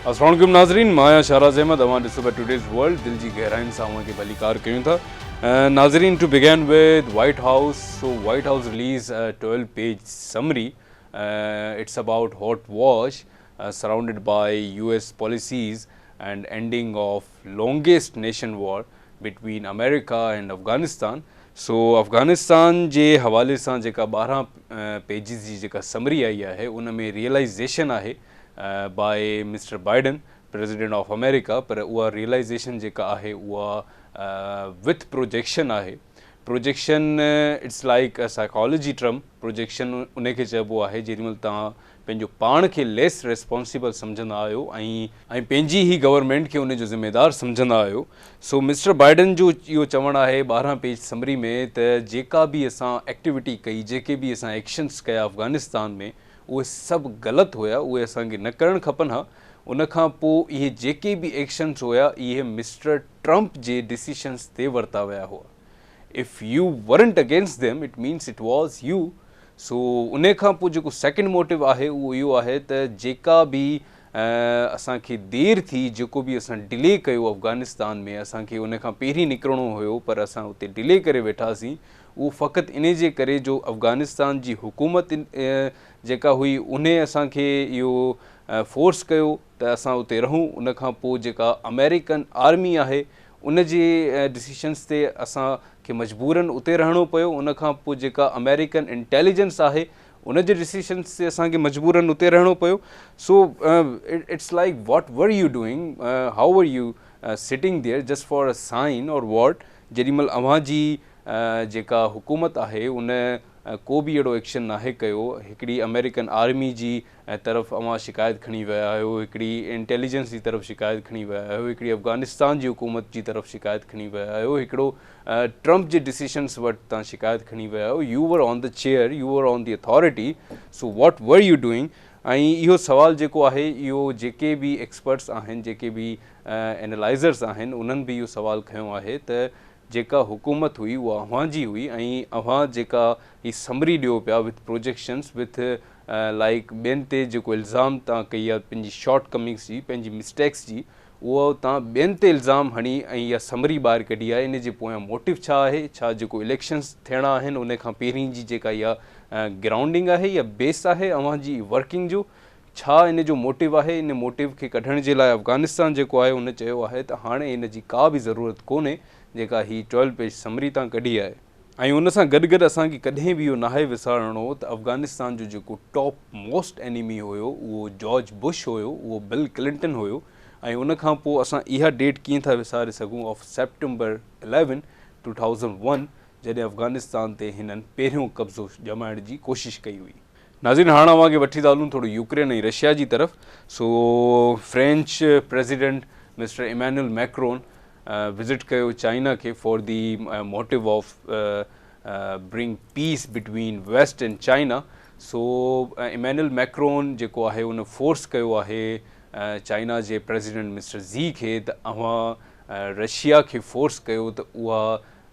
السلام عليڪم ناظرين مان آهيان شهراز احمد اوهان ڏسو پيا ٽوڊيز ورلڊ دل جي گهرائين سان اوهان کي ڀليڪار ڪيون ٿا ناظرين to begin with White House so White House release 12 page summary it's about hot wash surrounded by U S policies and ending of longest nation war between America and Afghanistan so Afghanistan جي حوالي سان جيڪا ٻارهن پيجز جي جيڪا summary آئي آهي ان ۾ realisation آهي by mister Biden president of America پر اها ريئلائيزيشن جيڪا آهي اها وٿ پروجيڪشن آهي. Projection it's like a psychology term, projection انهي کي چئبو آهي جيڏي مهل توهان پنهنجو پاڻ کي ليس ريسپانسيبل سمجهندا آهيو ۽ پنهنجي هي گورنمينٽ کي انهي جو ذميدار سمجهندا آهيو سو مسٽر بائيڊن جو اهو چوڻ آهي ٻارهن پيج سمري ۾ ته جيڪا به اسان ايڪٽيوٽي ڪئي جيڪي به اسان ايڪشنس ڪيا افغانستان ۾ اهي سڀ غلط هيا اهي اسان کي نه ڪرڻ کپن ها ان کان پو اهي جيڪي به ايڪشنس هيا اهي مسٽر ٽرمپ جي ڊيسيشنز تي ورتا ويا هئا. If you weren't against them it means it was you so انهي کان پوء جيڪو سيڪنڊ موٽو آهي اهو اهو آهي ته جيڪا به اسان کي دير ٿي جيڪو به اسان ڊلي ڪيو افغانستان ۾ اسان کي ان کان پهرين نڪرڻو هيو پر اسان اتي ڊلي ڪري ويٺاسين اهو فقط انهي جي ڪري جو افغانستان جي حڪومت جيڪا هئي انهي اسان کي اهو فورس ڪيو ته اسان اتي رهون ان کان پوء جيڪا آمريڪن آرمي آهي ان جي ڊسيشنس تي اسان کي مجبورن اتي رهڻو پيو ان کان پوء جيڪا آمريڪن انٽيليجنس آهي ان جي ڊسيشنس تي اسان کي مجبورن اتي رهڻو پيو so it's like what were you doing how were you sitting there just for a sign or what جيڏي مهل اوهان جي جيڪا حڪومت آهي ان ڪو به اهڙو ايڪشن ناهي ڪيو هڪڙي آمريڪن آرمي جي ۽ طرف اوهان شڪايت کڻي ويا آهيو، هڪڙي انٽيليجنس جي طرف شڪايت کڻي ويا آهيو، هڪڙي افغانستان جي حڪومت جي طرف شڪايت کڻي ويا آهيو، هڪڙو ٽرمپ جي ڊسيشنس وٽ تان شڪايت کڻي ويا آهيو، you were on the chair, you were on the authority, so what were you doing? ۽ اهو سوال جيڪو آهي اهو جيڪي به ايڪسپرٽس آهن، جيڪي به اينالائزرس آهن انهن به اهو سوال کنيو آهي ته جيڪا حڪومت هئي اها اوهان جي هئي ۽ اوهان جيڪا هي سمري ڏيو پيا وٿ پروجيڪشنس وٿ لائيڪ ٻين تي جيڪو الزام تان ڪئي آهي پنهنجي شارٽ ڪمنگس جي پنهنجي مسٽيڪس جي اهو تان ٻين تي الزام هڻي ۽ اها سمري ٻاهر ڪڍي آهي ان جي پويان موٽيو ڇا آهي ڇا جيڪو اليڪشنس ٿيڻا آهن ان کان پهرين جي جيڪا اها گرائونڊنگ آهي يا بيس آهي اوهان جي ورڪنگ جو ڇا ان جو موٽو آهي؟ ان موٽو کي ڪڍڻ جي لاء افغانستان جيڪو آهي ان چيو آهي ته هاڻي ان جي ڪا به ضرورت ڪونهي جيڪا هي ٽويلو پيج سمري تان ڪڍي آهي ۽ ان سان گڏ گڏ اسان کي ڪڏهن به اهو ناهي وسارڻو ته افغانستان جو جيڪو ٽاپ موسٽ انيمي هيو اهو جارج بش هيو اهو بل ڪلنٽن هيو ۽ ان کان پوء اسان اها ڊيٽ ڪيئن ٿا وساري سگهون of September eleven two thousand one جڏهن افغانستان تي هنن پهريون قبضو ڄمائڻ جي ڪوشش ڪئي هئي. ناظرين هاڻ اوهان کي وٺي ٿا هلون ٿورو يوڪرين ۽ رشيا جي طرف so French president mister Emmanuel Macron visit ڪيو چائنا کي for the motto of bring peace between West and China so Emmanuel Macron جيڪو آهي ان فورس ڪيو آهي چائنا جي پريزيڊنٽ مسٽر زي کي ته اوهان رشيا کي فورس ڪيو ته اها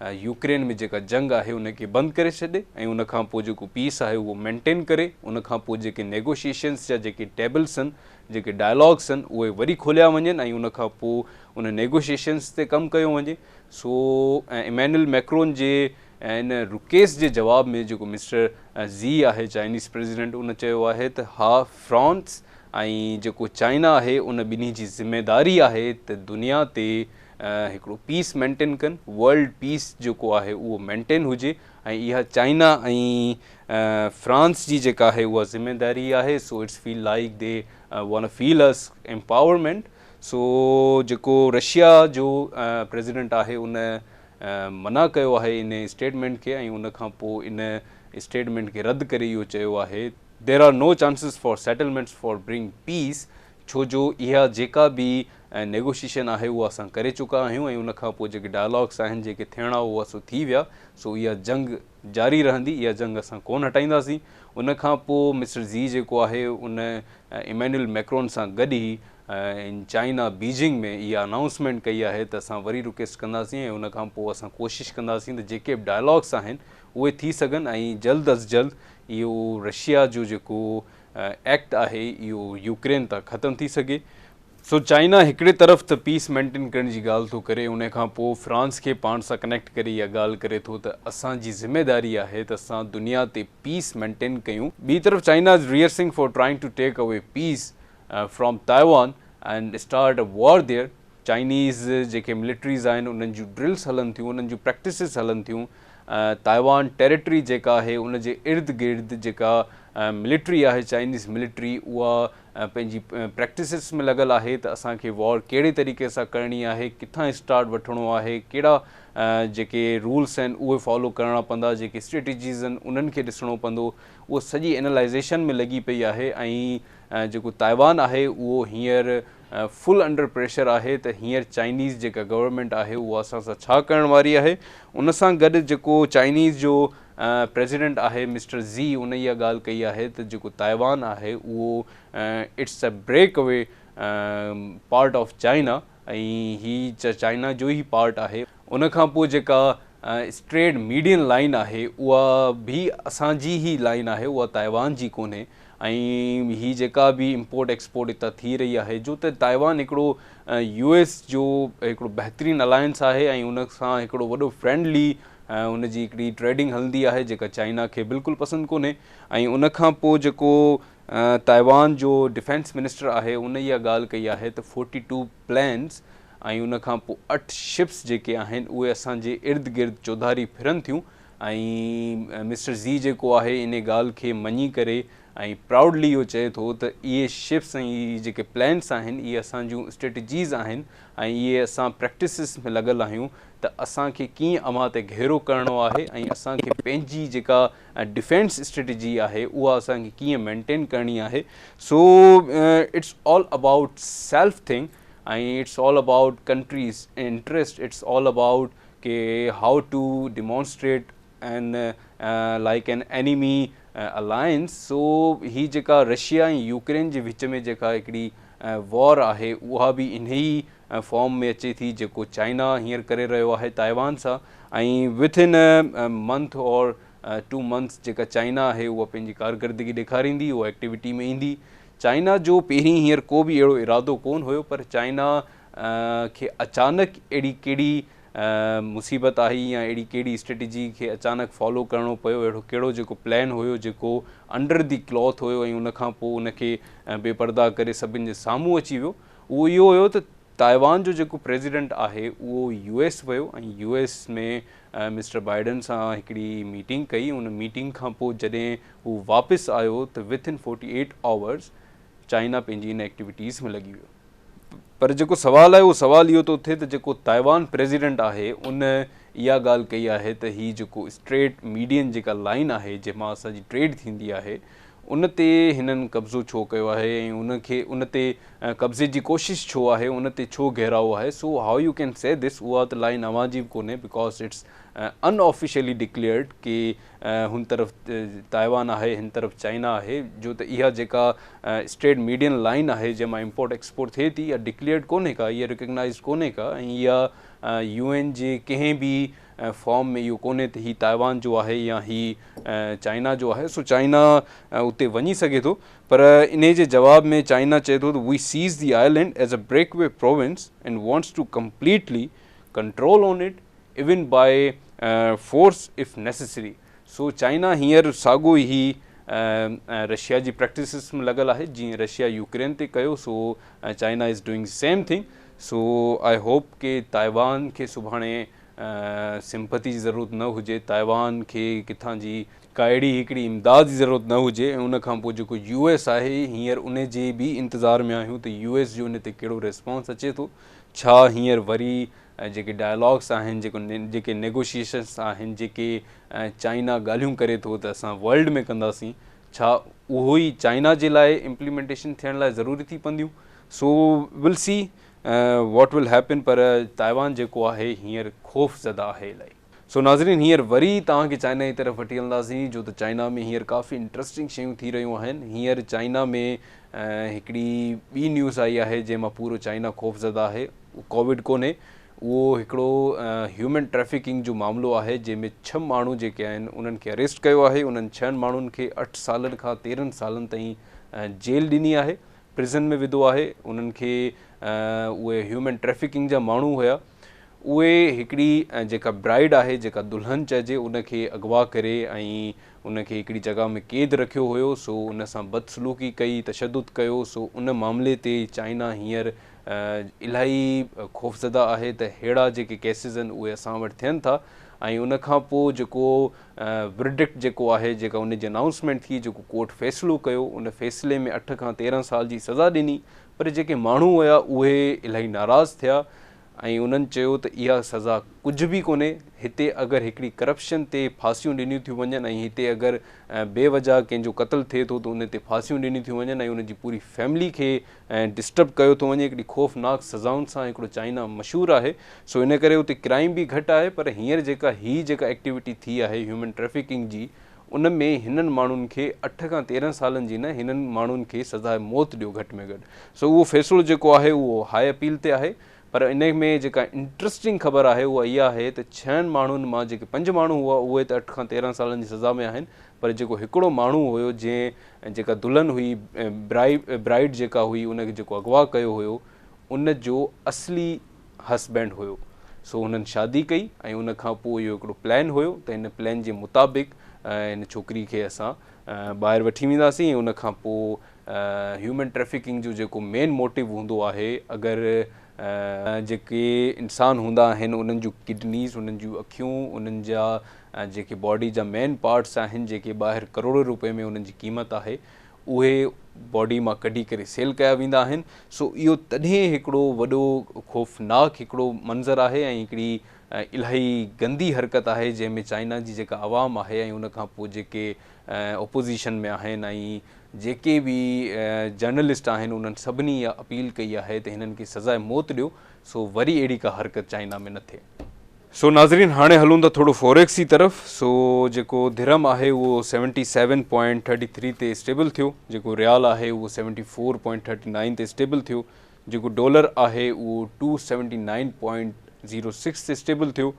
يوڪرين ۾ جيڪا جنگ آهي ان کي بند ڪري ڇڏي ۽ ان کان پوء جيڪو پيس آهي اهو مينٽين ڪري ان کان پوء جيڪي نيگوشيشنس جا جيڪي ٽيبلس آهن جيڪي ڊائلاگس آهن اهي وري کوليا وڃن ۽ ان کان پوء ان نيگوشيشنس تي ڪم ڪيو وڃي سو ايمينل ميڪرون جي ان رڪيس جي جواب ۾ جيڪو مسٽر زي آهي چائنيز پريزيڊنٽ ان چيو آهي ته ها فرانس ۽ جيڪو چائنا آهي ان ٻنهي جي ذميداري آهي ته دنيا تي هڪڙو پيس مينٽين ڪن، ورلڊ پيس جيڪو آهي اهو مينٽين هجي ۽ اها چائنا ۽ فرانس جي جيڪا آهي اها ذميداري آهي so it's feel like they want feel us empowerment so جيڪو رشيا جو پريزيڊنٽ آهي ان منع ڪيو آهي ان اسٽيٽمينٽ کي ۽ ان کان پوء ان اسٽيٽمينٽ کي رد ڪري اهو چيو آهي there are no chances for settlements for bring peace ڇو جو اها جيڪا به نيگوشيشن آهي اها اسان ڪري چڪا آهيون ۽ ان کان پوء جيڪي ڊائلاگس آهن جيڪي ٿيڻا هئا سو ٿي ويا سو اها جنگ جاري رهندي اها جنگ اسان ڪونه هٽائينداسين ان کان پوء مسٽر زي جيڪو آهي ان ايمينول ميڪرون سان گڏ ئي ان چائنا بيجنگ ۾ اها انائونسمينٽ ڪئي آهي ته اسان وري رڪويسٽ ڪنداسين ۽ ان کان پوء اسان ڪوشش ڪنداسين ته جيڪي به ڊائلاگس آهن اهي ٿي سگهن ۽ جلد از جلد اهو رشيا جو جيڪو ايڪٽ آهي اهو يوڪرين تان ختم ٿي سگهي سو چائنا هڪڙي طرف ته پيس مينٽين ڪرڻ جي ڳالهه ٿو ڪري ان کان پوء فرانس کي پاڻ سان ڪنيڪٽ ڪري اها ڳالهه ڪري ٿو ته اسان جي ذميداري آهي ته اسان دنيا تي پيس مينٽين ڪيون ٻي طرف China is rehearsing for trying to take away peace from Taiwan and start a war there Chinese جيڪي ملٽريز آهن انهن جون ڊرلس هلن ٿيون انهن جون پريڪٽسز هلن ٿيون تائيوان ٽيريٽري جيڪا آهي ان جي ارد گرد جيڪا ملٽري آهي چائنيز ملٽري اها پنهنجي پريڪٽسز ۾ لڳل آهي ته اسان کي وار ڪهڙي طريقي سان ڪرڻي آهي ڪٿان اسٽارٽ وٺڻو آهي ڪهڙا جيڪي رولس آهن اهي فالو ڪرڻا پوندا جيڪي اسٽريٽجيز آهن انهن کي ڏسڻو پوندو اهو سڄي اينالائزيشن ۾ لڳي پئي آهي ۽ جيڪو تائيوان آهي اهو هينئر فل انڊر پريشر آهي ته هينئر چائنيز جيڪا گورنمينٽ آهي اها اسان سان ڇا ڪرڻ واري آهي ان سان گڏ جيڪو چائنيز جو پريزيڊنٽ آهي مسٽر زي ان اها ڳالهه ڪئي آهي ته جيڪو تائيوان آهي اهو it's a break away part of China ۽ هي چائنا جو ئي پارٽ آهي ان کان پوء جيڪا اسٽريڊ ميڊين لائين آهي اها به اسان جي ئي لائين آهي اها تائيوان جي ڪونهي ۽ هي جيڪا به امپورٽ ايڪسپورٽ هتان ٿي رهي آهي جو ته تائيوان هڪڙو يو ايس جو هڪڙو بهترين الائنس آهي ۽ ان سان هڪڙو وڏو فرينڊلي ان جي هڪڙي ٽريڊنگ هلندي آهي جيڪا چائنا کي بلڪل پسند ڪونهي ۽ ان کان پوء جيڪو تائيوان جو ڊفينس منسٽر آهي ان اها ڳالهه ڪئي آهي ته فورٽي ٽو پلينز ۽ ان کان پوء اٺ شپس جيڪي آهن اهي اسان جي ارد گرد چوڌاري ڦرن ٿيون ۽ مسٽر زي جيڪو آهي انهي ڳالهه کي مڃي ڪري ۽ پرائوڊلي اهو چئي ٿو ته اهي شپس ۽ اهي جيڪي پلانٽس آهن اهي اسان جون اسٽريٽجيز آهن ۽ اهي اسان پريڪٽسز ۾ لڳل آهيون ته اسان کي ڪيئن اوهان تي گهيرو ڪرڻو آهي ۽ اسان کي پنهنجي جيڪا ڊفينس اسٽريٽجي آهي اها اسان کي ڪيئن مينٽين ڪرڻي آهي so it's all about self thing ۽ it's all about countries interest it's all about ڪي how to demonstrate an like an enemy alliance so هي جيڪا رشيا ۽ يوڪرين جي وچ ۾ جيڪا هڪڙي وار آهي اها به انهي فارم ۾ اچي ٿي جيڪو چائنا هينئر ڪري رهيو آهي تائيوان سان ۽ within month or two months جيڪا چائنا آهي اها پنهنجي ڪارڪردگي ڏيکاريندي اها ايڪٽيوٽي ۾ ايندي چائنا جو پهرين هينئر ڪو به اهڙو ارادو ڪون هيو پر چائنا کي اچانڪ اهڙي ڪهڙي مصيبت آئي يا اهڙي ڪهڙي اسٽريٽجي کي اچانڪ فالو ڪرڻو پيو اهڙو ڪهڙو جيڪو پلان هيو جيڪو انڊر دي ڪلاٿ هيو ۽ ان کان پوء ان کي بي پرده ڪري سڀن جي سامهون اچي ويو اهو اهو هيو ته تائيوان جو جيڪو پريزيڊنٽ آهي اهو يو ايس ويو ۽ يو ايس ۾ مسٽر بائيڊن سان هڪڙي ميٽنگ ڪئي ان ميٽنگ کان پوء جڏهن هو واپس آيو ته within forty eight hours China پنهنجي ان ايڪٽيوٽيز ۾ لڳي ويو پر جيڪو سوال آهي اهو سوال اهو ٿو اٿي ته جيڪو تائيوان پريزيڊنٽ آهي ان اها ڳالهه ڪئي آهي ته هي جيڪو اسٽريٽ ميڊين جيڪا لائن آهي جنهن مان اسان جي ٽريڊ ٿيندي آهي ان تي هنن قبضو ڇو ڪيو آهي ۽ ان کي ان تي قبضي جي ڪوشش ڇو آهي ان تي ڇو گهيراء آهي سو هاء يو ڪين سي دس اها ته لائن اوهان جي به ڪونهي because it's in officially declared ڪي هن طرف تائيوان آهي هن طرف چائنا آهي جو ته اها جيڪا اسٽريٽ ميڊين لائين آهي جنهن مان امپورٽ ايڪسپورٽ ٿئي ٿي اها ڊڪليئرڊ ڪونهي ڪا اها ريڪگنائزڊ ڪونهي ڪا ۽ اها يو اين جي ڪنهن به فارم ۾ اهو ڪونهي ته هي تائيوان جو آهي يا هي چائنا جو آهي سو چائنا اتي وڃي سگهي ٿو پر انهي جي جواب ۾ چائنا چئي ٿو ته we says the island is a break away province and wants to completely control on it even by force if necessary so China هينئر ساڳو ئي رشيا جي پريڪٽسز ۾ لڳل آهي جيئن رشيا يوڪرين تي ڪيو so China is doing same thing so I hope ڪي تائيوان کي سڀاڻي سمپتي جي ضرورت نه هجي تائيوان کي ڪٿان جي ڪا اهڙي هڪڙي امداد جي ضرورت نه هجي ۽ ان کان پوء جيڪو يو ايس آهي هينئر ان جي به انتظار ۾ آهيون ته يو ايس جو ان تي ڪهڙو ريسپانس اچي ٿو ڇا هينئر وري جيڪي ڊائلاگس آهن، جيڪو جيڪي نيگوشيشنس آهن، جيڪي چائنا ڳالهيون ڪري ٿو ته اسان ورلڊ ۾ ڪنداسين، ڇا اهو ئي چائنا جي لاء امپليمينٽيشن ٿيڻ لاء ضروري ٿي پونديون؟ So we'll see what will happen پر تائيوان جيڪو آهي هينئر خوف زده آهي الائي. سو ناظرين هينئر وري توهان کي چائنا جي طرف وٺي هلنداسين جو ته چائنا ۾ هينئر ڪافي انٽرسٽنگ شيون ٿي رهيون آهن هينئر چائنا ۾ هڪڙي ٻي نيوز آئي آهي جنهن مان پورو چائنا خوفزده آهي اهو ڪوويڊ ڪونهي اهو هڪڙو هيومن ٽريفڪنگ جو معاملو آهي جنهن ۾ ڇهه ماڻهو جيڪي آهن انهن کي اريسٽ ڪيو آهي انهن ڇهن ماڻهن کي اٺ سالن کان تيرهن سالن تائين جيل ڏني آهي پرزن ۾ وڌو آهي انهن کي اهي هيومن ٽريفڪنگ جا ماڻهو هيا اهي هڪڙي جيڪا برائيڊ آهي جيڪا دلهن چئجي ان کي اغوا ڪري ۽ ان کي هڪڙي جڳهه ۾ قيد رکيو هيو سو ان سان بدسلوڪي ڪئي تشدد ڪيو سو ان معاملي تي چائنا هينئر الاهي خوفزده آهي ته ههڙا جيڪي ڪيسز آهن اهي اسان وٽ ٿين ٿا ۽ ان کان پوء جيڪو ورڊڪٽ جيڪو آهي جيڪا ان جي انائونسمينٽ ٿي جيڪو ڪورٽ فيصلو ڪيو ان فيصلي ۾ اٺ کان تيرهن سال جي سزا ڏني پر جيڪي ماڻهو هيا اهي الاهي ناراض ٿيا ۽ انهن چيو ته اها سزا ڪجهه به ڪونهي، هتي اگر هڪڙي ڪرپشن تي ڦاسيون ڏنيون ٿيون وڃن ۽ هتي اگر بي وجهه ڪنهن جو قتل ٿئي ٿو ته ان تي ڦاسيون ڏنيون ٿيون وڃن ۽ ان جي پوري فيملي کي ڊسٽرب ڪيو ٿو وڃي هڪڙي خوفناڪ سزائن سان هڪڙو چائنا مشهور آهي سو ان ڪري اتي ڪرائيم به گهٽ آهي پر هينئر جيڪا هي جيڪا ايڪٽيوٽي ٿي آهي هيومن ٽريفڪنگ جي ان ۾ هنن ماڻهن کي اٺ کان تيرنهن سالن جي نه هنن ماڻهن کي سزاء موت ڏيو گهٽ ۾ گهٽ سو اهو فيصلو جيڪو آهي اهو هاء اپيل تي آهي پر ان ۾ جيڪا انٽرسٽنگ خبر آهي اها اها آهي ته ڇهن ماڻهن مان جيڪي پنج ماڻهو هئا اهي ته اٺ کان تيرنهن سالن جي سزا ۾ آهن پر جيڪو هڪڙو ماڻهو هيو جنهن جيڪا دلهن هئي برائيڊ جيڪا هئي ان کي جيڪو اغوا ڪيو هيو ان جو اصلي هسبينڊ هيو سو هنن شادي ڪئي ۽ ان کان پوء اهو هڪڙو پلان هيو ته ان پلان جي مطابق ان ڇوڪري کي اسان ٻاهر وٺي وينداسين ۽ ان کان پوء هيومن ٽريفڪنگ جو جيڪو مين موٽو هوندو آهي اگر جيڪي انسان هوندا آهن انهن جون ڪڊنيز انهن جون اکيون انهن جا جيڪي باڊي جا مين پارٽس آهن جيڪي ٻاهر ڪروڙين روپين ۾ انهن جي قيمت آهي اهي باڊي مان ڪڍي ڪري سيل ڪيا ويندا آهن سو اهو تڏهن هڪڙو وڏو خوفناڪ هڪڙو منظر آهي ۽ هڪڙي الاهي گندي حرڪت آهي جنهن ۾ چائنا جي جيڪا عوام آهي ۽ ان کان پوء جيڪي اپوزيشن ۾ آهن ۽ جيڪي به جرنلسٽ آهن انهن سڀني اها اپيل ڪئي آهي ته هنن کي سزاء موت ڏيو سو وري اهڙي ڪا حرڪت چائنا ۾ نه ٿئي. سو ناظرين هاڻي هلون ٿا ٿورو فوريڪس جي طرف سو جيڪو درهم آهي اهو seventy seven point thirty three تي اسٽيبل ٿيو جيڪو ريال آهي اهو seventy four point thirty nine تي اسٽيبل ٿيو جيڪو ڊالر آهي اهو two seventy nine point zero six تي اسٽيبل ٿيو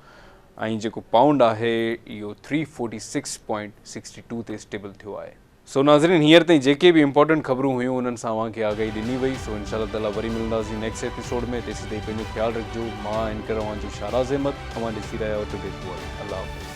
۽ جيڪو پائونڊ آهي اهو three forty six point sixty two تي اسٽيبل ٿيو آهي سو ناظرين هينئر تائين جيڪي به امپورٽنٽ خبرون هيون انهن سان اوهان کي آگاهي ڏني وئي سو انشاء الله تعالي وري ملنداسين نيڪسٽ ايپيسوڊ ۾ تيسين تائين پنهنجو خيال رکجو مان اينڪر اوهان جو شاهراز احمد اوهان ڏسي رهيا آهيو ٽوڊي پوء الله حافظ.